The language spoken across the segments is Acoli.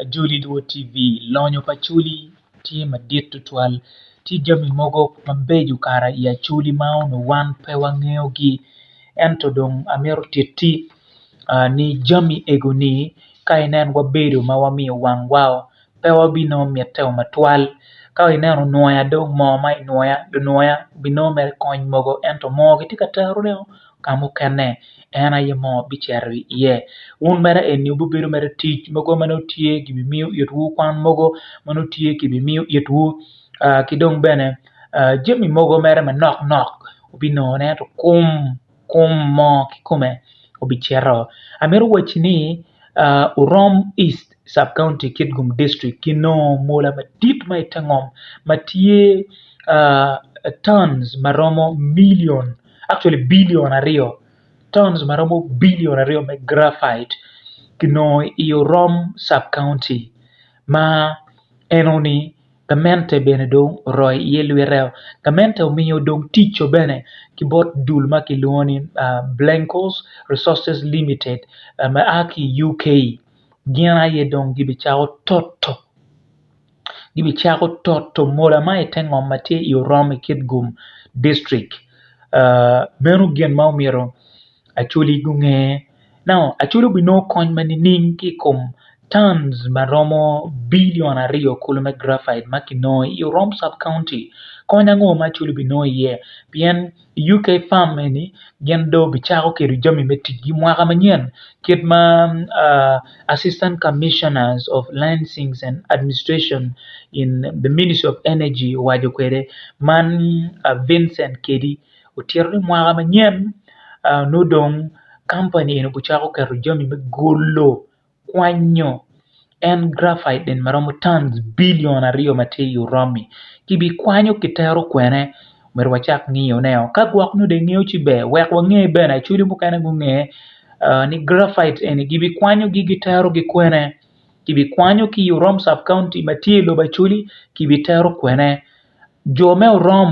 Ajoli Luo TV, Lonyo pa Acholi tye madit tutwal. Tye jami mogo mabeco kara i Acholi ma onongo wan pe wangeyogi. Ento dong amito titti ni jami ego ni ka inen wabedo ma wamiyo wangwa oo pe wabinongo mitte oo matwal. Ka ineno nwoya dong moo ma inwoya lunwoya binongo mere kony mogo ento moo kitye ka terone oo. ka mukene en aye mo bicito iye wun mere eni wubibedo mere tic mogo ma nongo tye gibimiyo itwu kwan mogo ma nongo tye gibimiyo itwu ki dong bene jami mogo mere manok nok wubinongo ne ento kum kum mo kikome obicito amito waci ni orom East sub county Kitgum district ginongo mola madit ma ite ngom ma tye tons ma romo milion actually billion aryo tons ma romo billion aryo me graphite kinongo i Orom Sub-County ma enoni gamente bene dong oroyo iye lwiteo. Gamente omiyo dong tic co bene ki bot dul ma kilwongo ni Blenkos Resources Limited ma a ki UK gin aye dong gibicako toto. gibicako toto mola ma ite ngom ma tye i Orom i Kitgum distrik. Uh meno gin ma omyero Acholi gunge. Now Acholi obinongo kony ma nining ki i kom tons ma romo bilion aryo kulu me graphite ma kinongo i Orom sub county? Kony ango ma Acholi obinongo iye pien I UK farm eni gin dong gicako kelo jami me ticgi mwaka manyen kit ma Assistant Commissioner of Landsings and Administration in the Ministry of Energy owaco kwede man Vincent Kedi otito ni mwaka manyen nongo dong kampani eni obicako keto jami me golo kwanyo en graphite nene ma romo tons bilion aryo ma tye i Uromi kibikwanyo kitero kwene myero wacak ngiyo ne o ka gwok nyo dong ingeyo ci ber wek wange bene Acholi mukene gunge ni graphite eni gibikwanyo gi gitero gi kwene kibikwanyo ki i Urom sub county ma tye i lobo Acholi kibitero kwene jo me Urom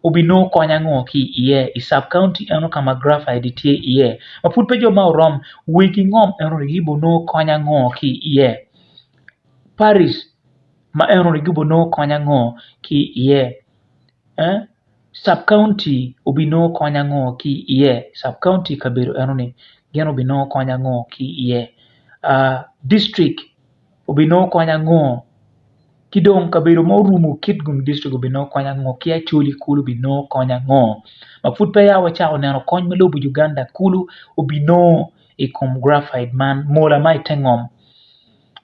obinongo kony ango ki iye i sub county eno ka ma graphite tye iye ma pud pe jo ma orom wer ki ngom eno ni gibo nongo kony ango ki iye Paris ma eno ni gibo nongo kony ango ki iye ee sub county obinongo kony ango ki iye sub county i kabedo eno ni gin obinongo kony ango ki iye aa dictrict obinongo kony ango? Ki dong kabedo ma orumo kit gum dictrict obinongo kony ango? Ki Acholi kulu obinongo kony ango? Ma pud peya wacako neno kony ma lobo Uganda kulu obinongo i kom graphite man, mola ma i te ngom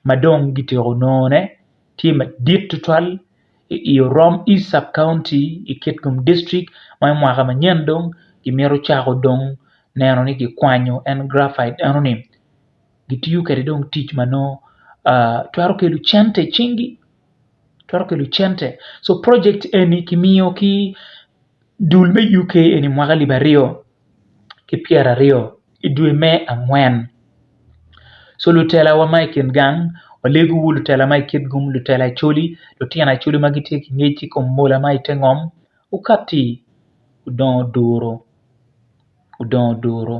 ma dong gityeko nongone tye madit tutwal i Orom East Sub County i Kitgum District ma i mwaka manyen dong kimito cako dong neno ni kikwanyo en graphite eno-ni. gitiyo kwede dong tic ma nongo twero kelo cente i cingi twero kelo cente so project eni kimiyo ki dul me UK eni mwaka alip aryo ki pyeraryo i dwe me angwen so lutelawa ma i kin gang walego wa lutela ma i kit kom lutela Acholi, lutino Acholi ma gitye ki ngec ki kom mola ma ite ngom gukati gudongo duru gudongo duru.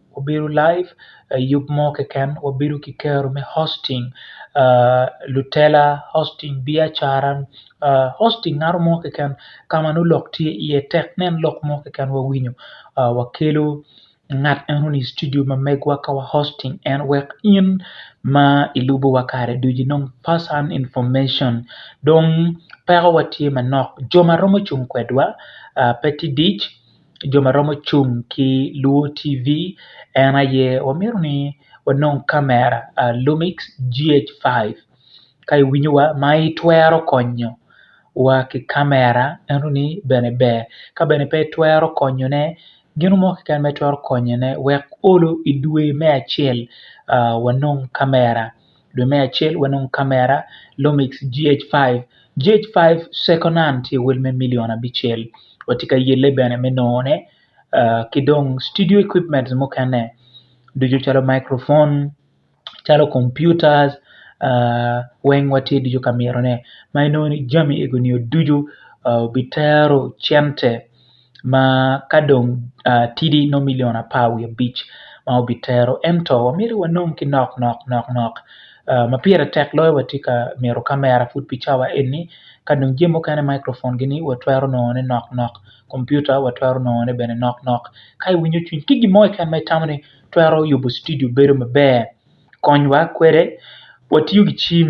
Wabedo live i yub mo keken wabedo ki kero me hosting lutela, hosting biacara, hosting ngat mo keken ka ma nongo lok tye iye tek nen lok mo keken wawinyo wakelo ngat eno ni i studio ma megwa ka wa hosting en wek in ma ilubowa kare ducu inong first hand information dong pekowa tye manok jo ma romo cung kwedwa pe tye dic. jo ma romo cung ki lwongo TV en aye wamito ni wanong kamera Lumix GH5 ka iwinyo wa ma itwero konyo wa ki kamera ento ni bene ber ka bene pe itwero konyo ne gino mo kiken ma itwero konyo ne wek olo idwe me acel wanong kamera. Dwe me acel wanongo kamera Lumix GH5. GH5 second hand tye wel me million abicel. Watye ka yelle bene me nongo ne uh, ki dong studio equipments mukene ducu calo microphone, calo computers uh, weng watye ducu ka miro ne. Ma inongo ni jami ego nio ducu uh, bitero cente. ma ka dong tidi nongo milion apar wiye abic ma obitero ento myero wanong ki nok nok nok nok ma pire tek loyo watye ka mito kamera pud pi cawa eni ka dong jami mukene microfon gini watwero nongone nok nok kompiuta watwero nongone bene nok nok ka iwinyo cwiny ki gin mo keken ma itamo ni twero yubo cidio bedo maber konywa kwede watiyo ki cim.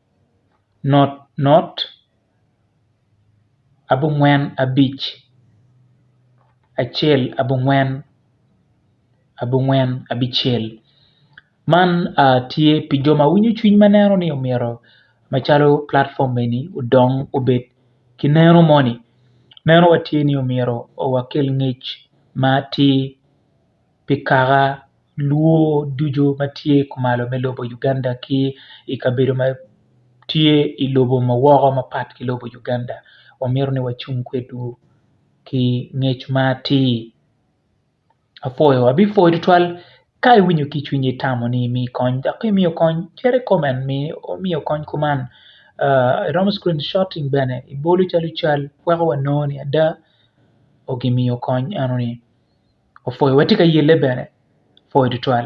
not not abongwen abic acel abongwen abongwen abicel man tye pi jo ma winyo cwiny ma neno ni omyero macalo platform eni odong obed ki neno moni neno wa tye ni omyero wakel ngec ma atir pi kaka luo ducu ma tye kumalo me lobo Uganda ki i kabedo ma tye i lobo ma woko mapat ki lobo Uganda wamito ni wacung kwedwu ki ngec ma atir apwoyo abipwoyo tutwal ka iwinyo ki i cwinyi itamo ni imi kony dok ka imiyo kony cit i komen ni imiyo kony kuman iromo cukul coting bene ibolo calo cal weko wanongo ni ada gimiyo kony enoni. opwoyo wa tye ka yelle bene pwoyo tutwal.